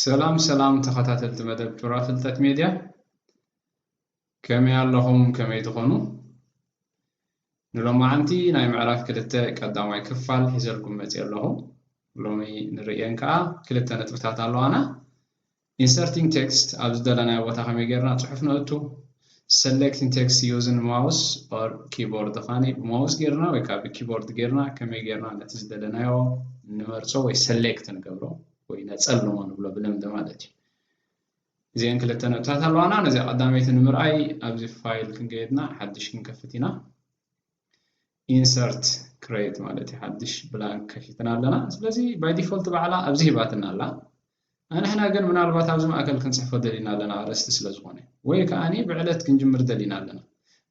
ሰላም ሰላም ተኸታተልቲ መደብ ጩራ ፍልጠት ሜድያ ከመይ ኣለኹም ከመይ ትኾኑ ንሎማዓንቲ ናይ ምዕራፍ ክልተ ቀዳማይ ክፋል ሒዘልኩም መፅእ ኣለኹ ሎሚ ንርእየን ከዓ ክልተ ነጥብታት ኣለዋና Inserting Text ኣብ ዝደለናዮ ቦታ ከመይ ጌርና ጽሑፍ ነእቱ? Selecting Text Using Mouse or Keyboard ድኻኒ ብማውስ ጌርና ወይ ከኣ ብኪቦርድ ጌርና ከመይ ጌርና ነቲ ዝደለናዮ ንመርጾ ወይ ሰሌክት ንገብሮ ወይ ነጸልሞ ንብሎ ብልምዲ ማለት እዩ። እዚኤን ክልተ ነጥብታት ኣለዋና ነዚኣ ቀዳመይቲ ንምርኣይ ኣብዚ ፋይል ክንገየድና ሓድሽ ክንከፍት ኢና። insert create ማለት እዩ ሓድሽ ብላንክ ከፊትና ኣለና ስለዚ by default ባዕላ ኣብዚ ሂባትና ኣላ ኣንሕና ግን ምናልባት ኣብዚ ማእከል ክንጽሕፎ ደሊና ኣለና ኣርእስቲ ስለ ዝኾነ ወይ ከኣኒ ብዕለት ክንጅምር ደሊና ኣለና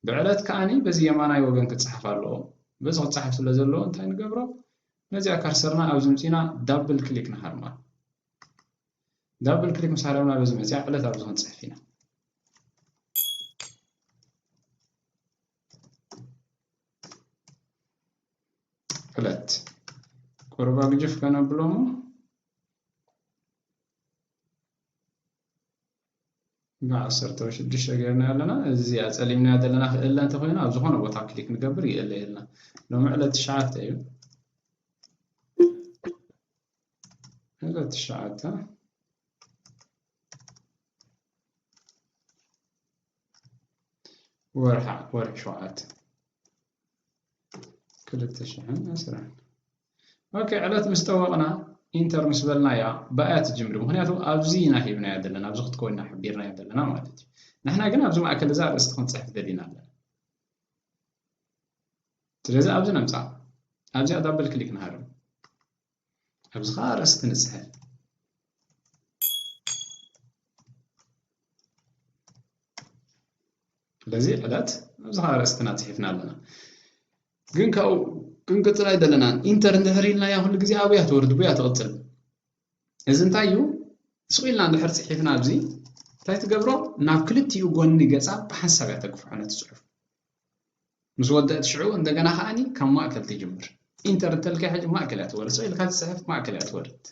ብዕለት ከኣኒ በዚ የማናይ ወገን ክጽሓፍ ኣለዎ በዚ ክጽሓፍ ስለ ዘለዎ እንታይ ንገብሮ ነዚኣ ከርሰርና ኣብዚ ምጺና ዳብል ክሊክ ንሃርማ ዳብል ክሊክ ምስ ሃረምና በዚ መጽያ ዕለት ኣብዚ ክንጽሕፍ ኢና ሁለት ቁርብ አግጅፍ ከነብሎሞ ብዓሰርተ ሽዱሽተ ገርና ኣለና እዚ ኣፀሊምናያ ዘለና ክእለ እንተኮይኑ ኣብ ዝኾነ ቦታ ክሊክ ንገብር ይእለ የልና ሎሚ ዕለት ትሽዓተ እዩ ዕለት ትሽዓተ ወርሓ ወርሒ ሸውዓተ ክልተ ሽሕን ዕስራን ኦኬ ዕለት ምስ ጠወቕና ኢንተር ምስ በልናያ ብኣያ ትጅምር ምክንያቱ ኣብዚ ኢና ሂብናያ ዘለና ኣብዚ ክትኮንና ሓቢርናያ ዘለና ማለት እዩ ንሕና ግን ኣብዚ ማእከል እዛ ኣርእስቲ ክንፅሕፍ ደሊና ኣለና ስለዚ ኣብዚ ነምፃ ኣብዚኣ ዳብል ክሊክ ንሃርም ኣብዚ ከዓ ኣርእስቲ ንፅሕፍ በዚ ዕለት ኣብዚ ከዓ ኣርእስትና ፅሒፍና ኣለና ግን ካብኡ ክንቅፅል ኣይደለናን ኢንተር እንድሕር ኢልናያ ኩሉ ግዜ ኣብያ ትወርድ ብያ ትቕፅል እዚ እንታይ እዩ ስቕ ኢልና እንድሕር ፅሒፍና ኣብዚ እንታይ ትገብሮ ናብ ክልቲኡ ጎኒ ገፃ ብሓንሳብ እያ ተግፍሖ ነቲ ፅሑፍ ምስ ወደእት ሽዑ እንደገና ከኣኒ ካብ ማእከል ትጅምር። ኢንተር እንተልካያ ሕጂ ማእከል እያ ትወርድ ኢልካ ትጽሕፍ ማእከል እያ ትወርድ።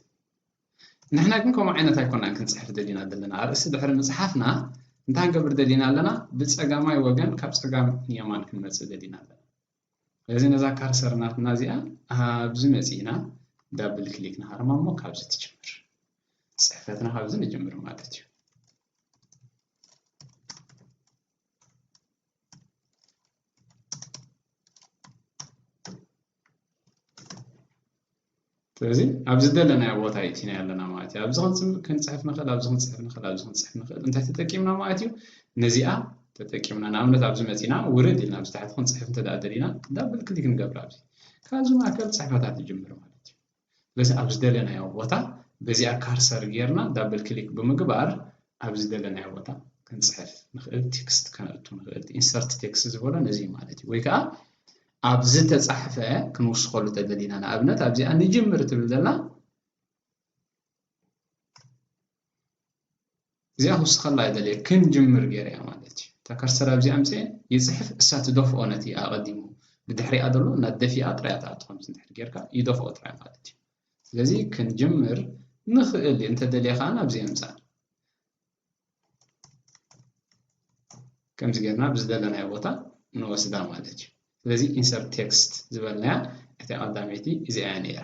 ንሕና ግን ከምኡ ዓይነት ኣይኮናን ክንጽሕፍ ደሊና ዘለና። ኣርእስቲ ድሕሪ ምጽሓፍና እንታይ ክንገብር ደሊና ኣለና? ብጸጋማይ ወገን ካብ ጸጋም ንየማን ክንመጽእ ደሊና ኣለና። ስለዚ ነዛ ካርሰር ናትና እዚኣ ኣብዚ መጺእና ዳብል ክሊክ ንሃርማ እሞ ካብዚ ትጅምር። ጽሕፈትና ካብዚ ንጅምር ማለት እዩ። ስለዚ ኣብ ዝደለናዮ ቦታ ይእቲናዮ ኣለና ማለት እዩ ኣብዚ ክንፅሕፍ ንኽእል ኣብዚ ክንፅሕፍ ንኽእል ኣብዚ ክንፅሕፍ ንኽእል እንታይ ተጠቂምና ማለት እዩ ነዚኣ ተጠቂምና ንኣብነት ኣብዚ መፂና ውርድ ኢልና ኣብዚ ታሕቲ ክንፅሕፍ እንተ ደሊና ዳብል ክሊክ ንገብር ኣብዚ ካብዚ ማእከል ፅሕፈታት ይጅምር ማለት እዩ ስለዚ ኣብ ዝደለናዮ ቦታ በዚኣ ካርሰር ጌርና ዳብል ክሊክ ብምግባር ኣብ ዝደለናዮ ቦታ ክንጽሕፍ ንኽእል ቴክስት ከነእቱ ንኽእል ኢንሰርት ቴክስት ዝበሎ ነዚ ማለት እዩ ወይ ከዓ ኣብ ዝተጻሕፈ ክንውስኸሉ ተደሊና ንኣብነት ኣብዚኣ ንጅምር ትብል ዘላ እዚኣ ክውስኸላ ኣይደልየ ክንጅምር ገይረያ ማለት እዩ ተከርሰር ኣብዚ ኣምፅኤ ይፅሕፍ እሳ ትደፍኦ ነቲ ኣቐዲሙ ብድሕሪኣ ዘሎ እናደፊኣ ጥራያ ትኣቱ ከምዚ እንድሕር ጌርካ ይደፍኦ ጥራይ ማለት እዩ ስለዚ ክንጅምር ንኽእል እንተደልየ ከዓ ናብዚ የምፃእ ከምዚ ጌርና ብዝደለናዮ ቦታ ንወስዳ ማለት እዩ ስለዚ ኢንሰርት ቴክስት ዝበልናያ እቲኣ ቀዳመይቲ እዚኣ እያ ነይራ።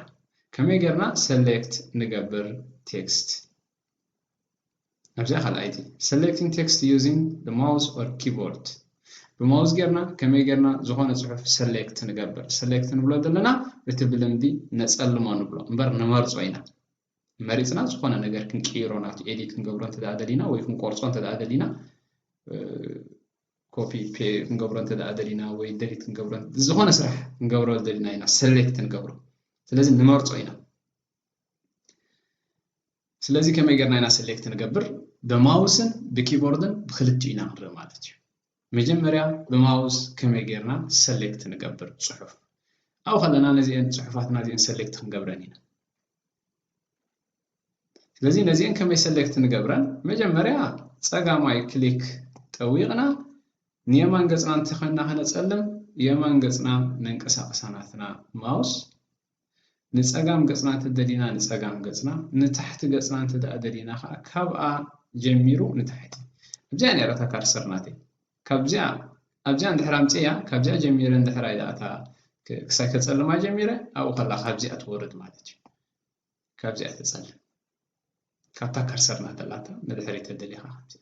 ከመይ ጌርና ሰሌክት ንገብር ቴክስት? ኣብዚኣ ካልኣይቲ ሰሌክቲንግ ቴክስት ዩዚንግ ዘ ማውስ ኦር ኪቦርድ ብማውዝ ጌርና ከመይ ጌርና ዝኾነ ጽሑፍ ሰሌክት ንገብር ሰሌክት ንብሎ ዘለና እቲ ብልምዲ ነጸልሞ ንብሎ እምበር ንመርጾ ኢና መሪጽና ዝኾነ ነገር ክንቅይሮ ናቱ ኤዲት ክንገብሮ እንተ ደሊና ወይ ክንቆርጾ እንተ ደሊና ኮፒ ክንገብሮ እንተ ደሊና ወይ ደሊት ክንገብሮ ዝኾነ ስራሕ ክንገብሮ ደሊና ኢና ሰሌክት ንገብሮ ስለዚ ንመርጾ ኢና ስለዚ ከመይ ጌርና ኢና ሰሌክት ንገብር ብማውስን ብኪቦርድን ብክልቲኡ ኢና ንርኢ ማለት እዩ መጀመርያ ብማውስ ከመይ ጌርና ሰሌክት ንገብር ፅሑፍ ኣብኡ ከለና ነዚአን ፅሑፋትና እዚአን ሰሌክት ክንገብረን ኢና ስለዚ ነዚኤን ከመይ ሰሌክት ንገብረን መጀመርያ ጸጋማይ ክሊክ ጠዊቕና ንየማን ገጽና እንተኾይንና ከነጸልም የማን ገጽና ነንቀሳቕሳ ናትና ማውስ ንጸጋም ገጽና እንተደሊና ንጸጋም ገጽና ንታሕቲ ገጽና እንተደኣ ደሊና ከዓ ካብኣ ጀሚሩ ንታሕቲ እብዚኣ ነረታ ካርሰር ናተይ ካብዚኣ ኣብዚኣ እንድሕር ኣምጺኤያ ካብዚኣ ጀሚረ እንድሕር ኣይ ኣታ ክሳይ ከጸልማ ጀሚረ ኣብኡ ከላ ካብዚኣ ትወርድ ማለት እዩ ካብዚኣ ተጸልም ካብታ ከርሰር ናተላታ ንድሕሪ ተደሊኻ ከምዚ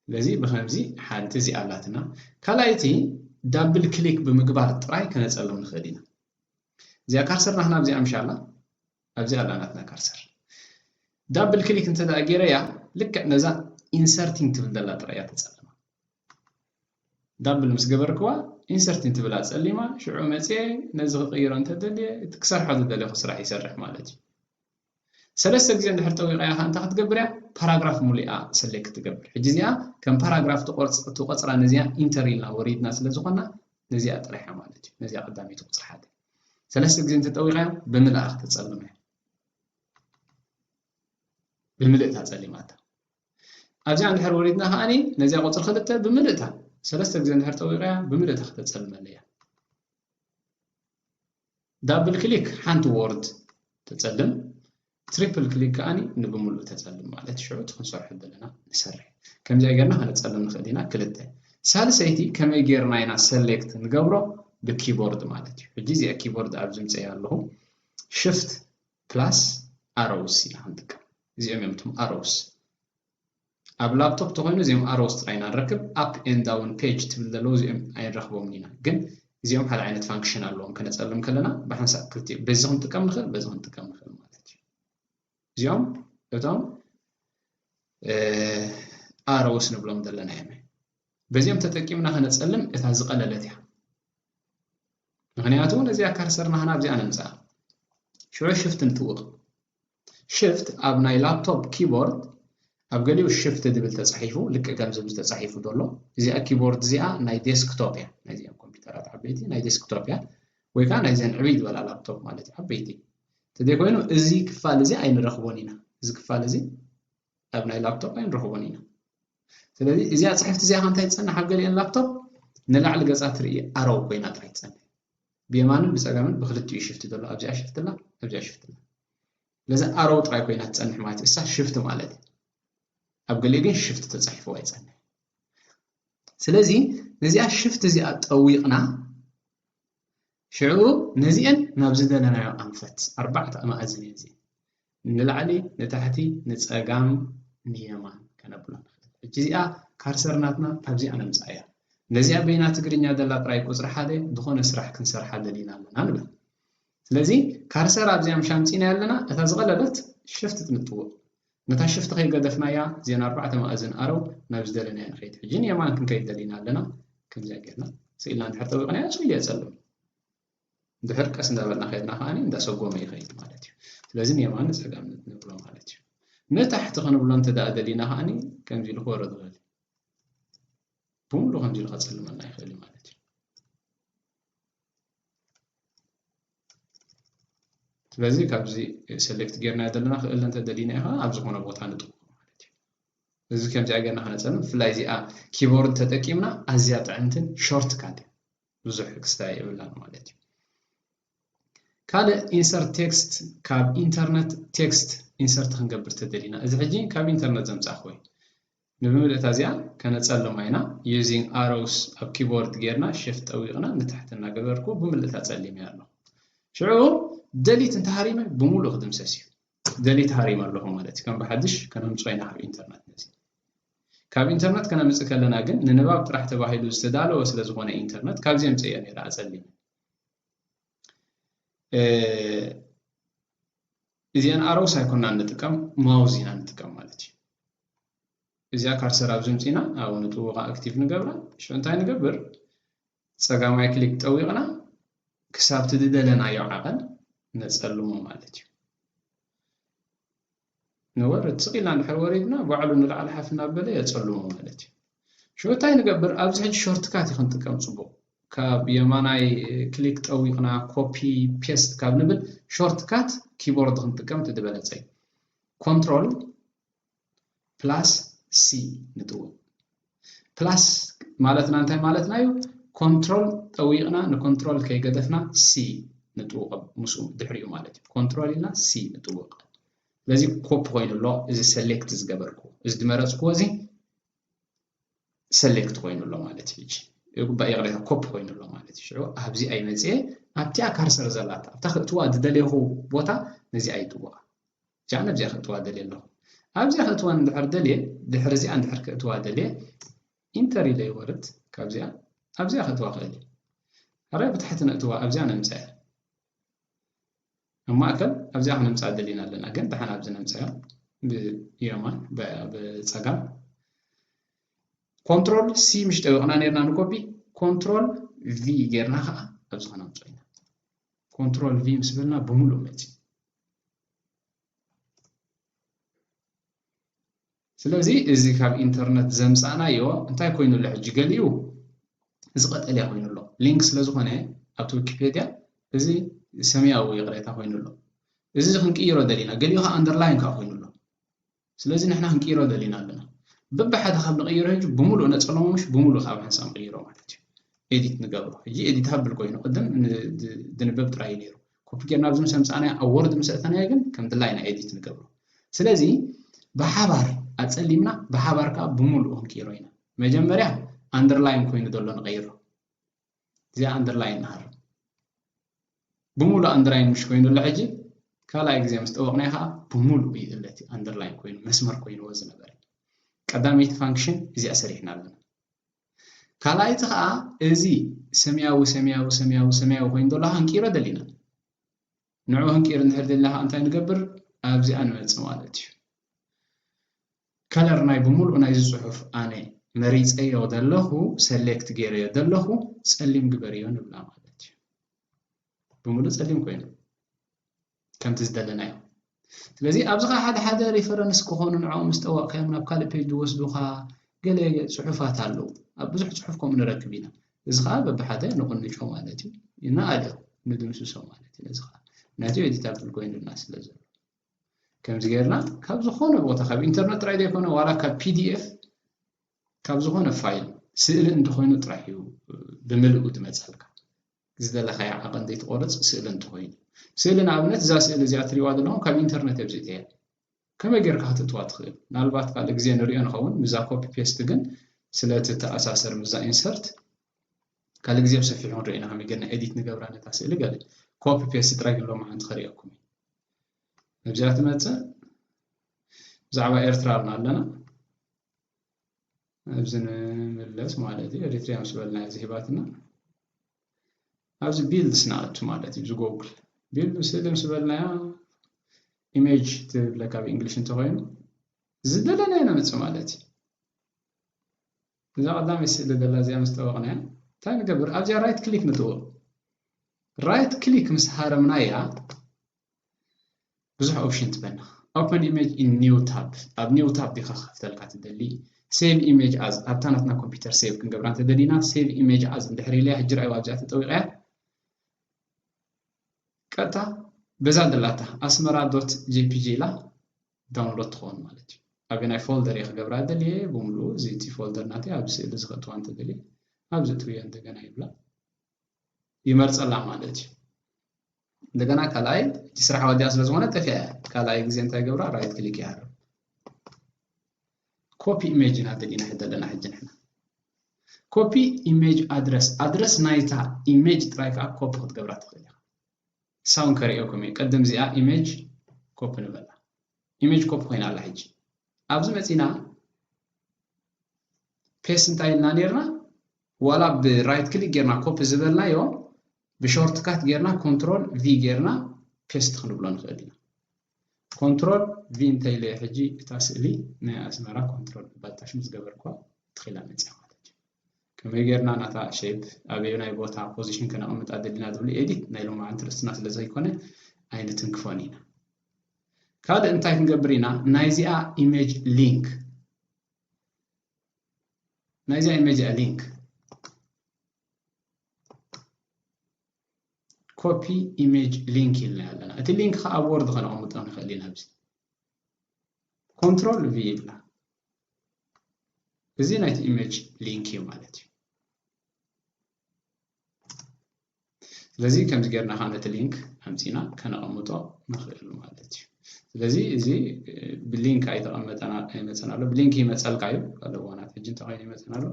ስለዚ ብከምዚ ሓንቲ እዚ ኣላትና ካልኣይቲ ዳብል ክሊክ ብምግባር ጥራይ ከነጸልም ንኽእል ኢና እዚኣ ካርሰር ናትና ኣብዚኣ ምሻላ ኣብዚ ኣላ ናትና ከርሰር ዳብል ክሊክ እንተ ጌረያ ልክዕ ነዛ ኢንሰርቲንግ ትብል ዘላ ጥራይ እያ ተጸልማ ዳብል ምስ ገበርክዋ ኢንሰርቲንግ ትብል ኣጸሊማ ሽዑ መጽየ ነዚ ክቕይሮ እንተ ደልየ እቲ ክሰርሖ ዝደለኹ ስራሕ ይሰርሕ ማለት እዩ ሰለስተ ግዜ እንድሕር ጠዊቐያ ከዓ እንታይ ክትገብር እያ ፓራግራፍ ሙሉኣ ሰሌክት ትገብር ሕጂ እዚኣ ከም ፓራግራፍ ትቆፅራ ነዚኣ ኢንተር ኢልና ወሪድና ስለ ዝኾና ነዚኣ ጥራሕ ማለት እዩ ነዚኣ ቀዳመይቲ ቁፅሪ ሓደ ሰለስተ ግዜ እንተጠዊቓዮ ብምልኣ ክተጸልሞ እያ። ብምልእታ ጸሊማታ። ኣብዚኣ እንድሕር ወሪድና ከኣኒ ነዚኣ ቁጽሪ ክልተ ብምልእታ ሰለስተ ግዜ እንድሕር ጠዊቓያ ብምልእታ ክተጸልመኒ እያ። ዳብል ክሊክ ሓንቲ ዎርድ ተጸልም ትሪፕል ክሊክ ከኣኒ ንብምሉእ ተጸልም ማለት ሽዑ እቲ ክንሰርሖ ዘለና ንሰርሕ ከምዚኣ ጌርና ከነጸልም ንኽእል ኢና ክልተ ሳልሰይቲ ከመይ ጌርና ኢና ሰሌክት ንገብሮ ብኪቦርድ ማለት እዩ ሕጂ እዚኣ ኪቦርድ ኣብ ዝምጸያ ኣለኹ ሽፍት ፕላስ ኣሮውስ ኢና ክንጥቀም እዚኦም እዮም እቶም ኣሮውስ ኣብ ላብቶፕ ተኮይኑ እዚኦም ኣሮውስ ጥራይ ኢና ንረክብ ኣፕ ኤንድ ዳውን ፔጅ ትብል ዘለዉ እዚኦም ኣይንረክቦምን ኢና ግን እዚኦም ሓደ ዓይነት ፋንክሽን ኣለዎም ከነጸልም ከለና ብሓንሳእ ክልቲኦም በዚ ክንጥቀም ንክእል በዚ ክንጥቀም ንክእል ማለት እዩ እዚኦም እቶም ኣሮውስ ንብሎም ዘለና እዮም በዚኦም ተጠቂምና ከነጸልም እታ ዝቐለለት እያ ምክንያቱ ነዚኣ ካርሰር ናህና ኣብዚኣ ነምጽኣ ሽዑ ሽፍት ንጥውቕ ሽፍት ኣብ ናይ ላፕቶፕ ኪቦርድ ኣብ ገሊኡ ሽፍት ድብል ተጻሒፉ ልክዕ ከምዚ ምስ ተጻሒፉ ዘሎ እዚኣ ኪቦርድ እዚኣ ናይ ዴስክቶፕ እያ ናይዚኣም ኮምፒውተራት ዓበይቲ ናይ ዴስክቶፕ እያ ወይ ከዓ ናይዘን ዕብይ ዝበላ ላፕቶፕ ማለት እዩ ዓበይቲ እንተዘይኮይኑ እዚ ክፋል እዚ ኣይንረኽቦን ኢና እዚ ክፋል እዚ ኣብ ናይ ላፕቶፕ ኣይንረኽቦን ኢና ስለዚ እዚኣ ፅሕፍቲ እዚኣ ከንታይ ትፀንሕ ኣብ ገሊአን ላፕቶፕ ንላዕሊ ገፃ ትርኢ ኣረው ኮይና ጥራይ ትፀንሕ ብየማንን ብጸጋምን ብክልቲኡ ሽፍቲ ዘሎ ኣብዚኣ ሽፍቲ ኣላ ኣብዚኣ ሽፍቲ ኣላ ስለዚ ኣሮው ጥራይ ኮይና ትጸንሕ ማለት እዩ እሳ ሽፍቲ ማለት እዩ ኣብ ገሊኡ ግን ሽፍቲ ተጻሒፉ ኣይጸንሕ ስለዚ ነዚኣ ሽፍቲ እዚኣ ጠዊቕና ሽዑ ነዚአን ናብ ዝደለናዮ ኣንፈት ኣርባዕተ ኣማእዝን እየን እዚአን ንላዕሊ ንታሕቲ ንጸጋም ንየማን ከነብሎ ንኽእል። ሕጂ እዚኣ ካርሰር ናትና ካብዚኣ ነምጽኣያ። ነዚኣ በይና ትግርኛ ዘላ ጥራይ ቁጽሪ ሓደ ዝኾነ ስራሕ ክንሰርሓ ደሊና ኣለና ንበል። ስለዚ ካርሰር ኣብዚኣ ምሽ ኣምጺእናያ ኣለና እታ ዝቐለለት ሽፍት ንጥውቕ። ነታ ሽፍት ከይገደፍናያ ዜና ኣርባዕተ መኣዝን ኣረው ናብ ዝደለናዮ ንኸይድ። ሕጂ ንየማን ክንከይድ ደሊና ኣለና ከምዚኣ ጌርና ስኢልና እንድሕር ጠዊቕናያ ጽልዮ ጸልም። እንድሕር ቀስ እንዳበልና ከድና ከዓኒ እንዳሰጎመ ይኸይድ ማለት እዩ ስለዚ ንየማን ንጸጋም ንብሎ ማለት እዩ ንታሕቲ ክንብሎ እንተ ደኣ ደሊና ከዓኒ ከምዚ ኢሉ ክወርድ ይኽእል ብምሉእ ከምዚ ኢሉ ከጸልመና ይኽእል እዩ ማለት እዩ ስለዚ ካብዚ ሰሌክት ጌርና ዘለና ክእለ እንተ ደሊና ኢኻ ኣብ ዝኾነ ቦታ ንጥቁ ማለት እዩ እዚ ከምዚኣ ጌርና ከነጸልም ብፍላይ እዚኣ ኪቦርድ ተጠቂምና ኣዝያ ጥዕምትን ሾርት ካት ብዙሕ ክስታይ የብላን ማለት እዩ። ካልእ ኢንሰርት ቴክስት ካብ ኢንተርነት ቴክስት ኢንሰርት ክንገብር ተደሊና እዚ ሕጂ ካብ ኢንተርነት ዘምጻእክዎ እዩ። ንብምልእታ እዚኣ ከነጸልማ ኢና ዩዚንግ ኣሮውስ ኣብ ኪቦርድ ጌርና ሽፍት ጠዊቕና ንታሕቲ እናገበርኩ ብምልእታ ጸሊመያ ኣሎ። ሽዑ ደሊት እንተሃሪመ ብምሉእ ክድምሰስ እዩ። ደሊት ሃሪም ኣለኹ ማለት እዩ። ከም ብሓድሽ ከነምጽኦ ኢና ካብ ኢንተርነት ነዚ። ካብ ኢንተርነት ከነምጽእ ከለና ግን ንንባብ ጥራሕ ተባሂሉ ዝተዳለወ ስለ ዝኾነ ኢንተርነት ካብዚ የምጽእዮ ነይረ ኣጸሊመ። እዚአን ኣሮውስ ኣይኮናን ንጥቀም ማውዝ ኢና ንጥቀም ማለት እዩ። እዚኣ ካርሰር ኣብዚ ኣምጺእና ኣብኡ ንጥውቓ ኣክቲቭ ንገብራ ሽዑ እንታይ ንገብር ጸጋማይ ክሊክ ጠዊቕና ክሳብቲ ዝደለናዮ ዓቐን ነጸልሞ ማለት እዩ ንወርድ ስቕ ኢልና እንድሕር ወሪድና ባዕሉ ንላዕሊ ሓፍ እናበለ የፀልሞ ማለት እዩ ሽዑ እንታይ ንገብር ኣብዚ ሕጂ ሾርትካት እዩ ክንጥቀም ፅቡቕ ካብ የማናይ ክሊክ ጠዊቕና ኮፒ ፔስት ካብ ንብል ሾርትካት ኪቦርድ ክንጥቀም እቲ ዝበለፀ እዩ ኮንትሮል ፕላስ ሲ ንጥውቕ። ፕላስ ማለትና እንታይ ማለትና እዩ? ኮንትሮል ጠዊቕና ንኮንትሮል ከይገደፍና ሲ ንጥውቕ ምስኡ ድሕሪኡ ማለት እዩ። ኮንትሮል ኢልና ሲ ንጥውቕ። ስለዚ ኮፒ ኮይኑ ኣሎ እዚ ሰሌክት ዝገበርኩ እዚ ዝመረፅኩዎ እዚ ሰሌክት ኮይኑ ኣሎ ማለት እዩ። ይግባእ ይቕሬታ ኮፒ ኮይኑ ኣሎ ማለት እዩ። ሽዑ ኣብዚ ኣይመፅኤ ኣብቲኣ ካርሰር ዘላት ኣብታ ክእትዋ ዝደለኹ ቦታ ነዚኣ ይጥውቓ። እዚኣ ናብዚኣ ከእትዋ ደልየ ኣለኹ። ኣብዚኣ ከእትዋ እንድሕር ደልየ፣ ድሕሪ እዚኣ እንድሕር ከእትዋ ደልየ፣ ኢንተር ኢለ ይወርድ፣ ካብዚኣ ኣብዚኣ ከእትዋ እኽእል እየ። ሕራይ ብታሕቲ ነእትዋ፣ ኣብዚኣ ነምጽኣያ። ኣብ ማእከል ኣብዚኣ ክነምጽኣ ደሊና ኣለና፣ ግን ደሓን ኣብዚ ነምጽኣያ፣ ብየማን ብጸጋም። ኮንትሮል ሲ ምሽ ጠዊቕና ነርና ንኮፒ፣ ኮንትሮል ቪ ጌርና ከኣ ኣብዚ ከነምጽኦ ኢና። ኮንትሮል ቪ ምስ በልና ብምሉእ መጺኡ። ስለዚ እዚ ካብ ኢንተርነት ዘምፃእናዮ እንታይ ኮይኑ ኣሎ ሕጂ ገሊኡ እዚ ቀጠልያ ኮይኑ ኣሎ ሊንክ ስለ ዝኾነ ኣብቲ ዊኪፔድያ እዚ ሰማያዊ ይቕሬታ ኮይኑ ኣሎ እዚ ክንቅይሮ ደሊና ገሊኡ ከዓ ኣንደርላይን ከዓ ኮይኑ ኣሎ ስለዚ ንሕና ክንቅይሮ ደሊና ኣለና በብሓደ ካብ ንቕይሮ ሕጂ ብምሉእ ነጸሎሞ ምሽ ብምሉእ ካብ ሕንሳ ንቕይሮ ማለት እዩ ኤዲት ንገብሮ ሕጂ ኤዲት ሃብል ኮይኑ ቅድም ድንበብ ጥራይ እዩ ነይሩ ኮፒ ጌርና ኣብዚ ምስ ኣምጻእናዮ ኣብ ወርድ ምስ ኣእተናዮ ግን ከም ድላይ ኢና ኤዲት ንገብሮ ስለዚ ብሓባር ኣጸሊምና ብሓባር ከዓ ብምሉእ ክንቅይሮ ኢና መጀመርያ ኣንደርላይን ኮይኑ ዘሎ ንቐይሮ እዚኣ ኣንደርላይ ንሃር ብምሉእ ኣንደርላይ ምሽ ኮይኑ ኣሎ ሕጂ ካልኣይ ግዜ ምስ ጠወቕናዮ ከዓ ብምሉእ እዩ ዘለቲ ኣንደርላይ ኮይኑ መስመር ኮይንዎ ዝነበረ ቀዳመይቲ ፋንክሽን እዚኣ ሰሪሕና ኣለና ካልኣይቲ ከዓ እዚ ሰማያዊ ሰማያዊ ሰማያዊ ሰማያዊ ኮይኑ ዘሎ ሃንቂሮ ደሊና ንዑ ሃንቂሮ እንድሕር ደሊና ከዓ እንታይ ንገብር ኣብዚኣ ንመፅእ ማለት እዩ ከለር ናይ ብምሉኡ ናይዚ ጽሑፍ ኣነ መሪጸዮ ዘለኹ ሰሌክት ጌረዮ ዘለኹ ጸሊም ግበርዮ ንብላ ማለት እዩ። ብምሉእ ጸሊም ኮይኑ ከምቲ ዝደለናዮ ስለዚ ኣብዚ ኸ ሓደ ሓደ ሪፈረንስ ክኾኑ ንዕኦም ምስ ጠወቕካዮም ናብ ካልእ ፔጅ ዝወስዱኻ ገለ ፅሑፋት ኣለዉ ኣብ ብዙሕ ፅሑፍ ከምኡ ንረክብ ኢና እዚ ከዓ በብሓደ ንቕንጮ ማለት እዩ ንኣልዮ ንድምስሶ ማለት እዩ ነዚ ከዓ ምክንያቱ ኤዲታብል ኮይኑና ስለ ዘሎ ከምዚ ጌርና ካብ ዝኾነ ቦታ ካብ ኢንተርነት ጥራይ ዘይኮነ ዋላ ካብ ፒዲኤፍ ካብ ዝኾነ ፋይል ስእሊ እንተኾይኑ ጥራሕ እዩ ብምልኡ ዝመፅኣልካ ዝደለኻዮ ዓቐን ዘይትቆርፅ ስእሊ እንተኾይኑ ስእሊ ንኣብነት እዛ ስእሊ እዚኣ ትሪዋ ዘለኹም ካብ ኢንተርነት እየ ብዚእተያ ከመይ ጌርካ ክትእትዋ ትኽእል ምናልባት ካልእ ግዜ ንሪኦ ንኸውን ምዛ ኮፒ ፔስት ግን ስለቲ ተኣሳሰር ምዛ ኢንሰርት ካልእ ግዜ ብሰፊሑ ክንሪኦ ኢና ከመይ ጌርና ኤዲት ንገብራ ነታ ስእሊ ገለ ኮፒ ፔስት ጥራይ ግን ሎሚ ሓንቲ ከሪኦኩም እዩ ነብዚኣ ትመጽእ ብዛዕባ ኤርትራ ኣልና ኣለና ኣብዚ ንምለስ ማለት እዩ ኤሪትሪያ ምስ በልና እዚ ሂባትና ኣብዚ ቢልድስ ንኣቱ ማለት እዩ ዝጎግል ቢልድ ስእሊ ምስ በልናያ ኢሜጅ ትብለካ ብእንግሊሽ እንተኮይኑ ዝደለናዮ ነምፅእ ማለት እዩ እዛ ቀዳመይቲ ስእሊ ዘላ እዚኣ ምስ ጠወቕናያ እንታይ ንገብር? ኣብዚኣ ራይት ክሊክ ንጥውቕ። ራይት ክሊክ ምስ ሃረምናያ ብዙሕ ኦፕሽን ትበና። ኦፐን ኢሜጅ ኢን ኒው ታብ ኣብ ኒው ታብ ዲኻ ክኸፍተልካ ትደሊ ሴቭ ኢሜጅ ኣዝ ኣብታ ናትና ኮምፒውተር ሴቭ ክንገብራ እንተደሊና ሴቭ ኢሜጅ ኣዝ እንድሕር ኢለያ ሕጂ ራእዩ ኣብዚኣ ተጠዊቐያ ቀጥታ በዛ ደላታ ኣስመራ ዶት ጄፒጂ ኢላ ዳውንሎድ ትኸውን ማለት እዩ። ኣበናይ ፎልደር እየ ክገብራ ደልየ ብምሉኡ እዚ እቲ ፎልደር ናተይ ኣብዚ ስእሊ እዚ ከእትዋ እንተደልየ ኣብዚ እትውዮ እንደገና ይብላ ይመርፀላ ማለት እዩ። እንደገና ካልኣይ እቲ ስራሕ ወዲያ ስለ ዝኾነ ጠፊኣ እያ ካልኣይ ግዜ እንታይ ገብራ ራይት ክሊክ ይሃርም ኮፒ ኢሜጅ ኢና ደሊና ሕደ ኣለና ሕጂ ንሕና ኮፒ ኢሜጅ ኣድረስ ኣድረስ ናይታ ኢሜጅ ጥራይ ከዓ ኮፒ ክትገብራ ትኽእል ኢኻ ሳውን ከርእየኩም እየ ቅድም እዚኣ ኢመጅ ኮፒ ንበላ ኢመጅ ኮፒ ኮይና ኣላ ሕጂ ኣብዚ መጺና ፔስ እንታይ ኢልና ነርና ዋላ ብራይት ክሊክ ጌርና ኮፒ ዝበልናዮ ብሾርትካት ጌርና ኮንትሮል ቪ ጌርና ፔስት ክንብሎ ንኽእል ኢና ኮንትሮል ቪ እንተ ኢለ ሕጂ እታ ስእሊ ናይ ኣስመራ ኮንትሮል እባ ታሽ ምስ ገበርክዋ ትኽ ኢላ መጺኣ ማለት እዩ። ከመይ ጌርና ናታ ሼፕ ኣበየናይ ቦታ ፖዚሽን ከነቐምጣ ደሊና ዝብሉ ኤዲት ናይ ሎማዓንቲ ርእስና ስለ ዘይኮነ ኣይንትንክፎን ኢና። ካልእ እንታይ ክንገብር ኢና ናይዚኣ ኢሜጅ ሊንክ ናይዚኣ ኢሜጅ ሊንክ ኮፒ ኢሜጅ ሊንክ ኢልና ኣለና እቲ ሊንክ ከዓ ኣብ ወርድ ከነቐምጦ ንኽእል ኢና ኣብዚ ኮንትሮል ቪ ኢልና እዚ ናይቲ ኢሜጅ ሊንክ እዩ ማለት እዩ ስለዚ ከምዚ ጌርና ከዓ ነቲ ሊንክ ኣምፂና ከነቐምጦ ንኽእል ማለት እዩ ስለዚ እዚ ብሊንክ ኣይተቐመጠና ኣይመፀና ኣሎ ብሊንክ ይመፀልካ እዩ ኣለዎ ናት ሕጂ እንተኮይኑ ይመፀና ኣሎ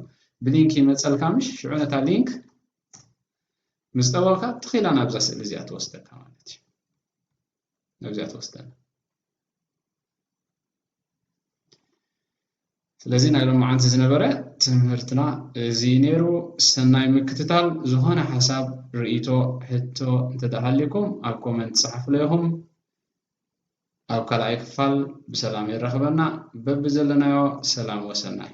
ብሊንክ ይመጸልካ ምሽ ሽዑ ነታ ሊንክ ምስ ጠወቕካ ትኽ ኢላ ናብዛ ስእሊ እዚኣ ትወስደካ ማለት እዩ ናብዚኣ ትወስደና ስለዚ ናይ ሎማዓንቲ ዝነበረ ትምህርትና እዚ ነይሩ ሰናይ ምክትታል ዝኾነ ሓሳብ ርእቶ ሕቶ እንተደሃሊኩም ኣብ ኮመንት ፀሓፍሎ ኢኹም ኣብ ካልኣይ ክፋል ብሰላም የራኽበና በቢ ዘለናዮ ሰላም ወሰናይ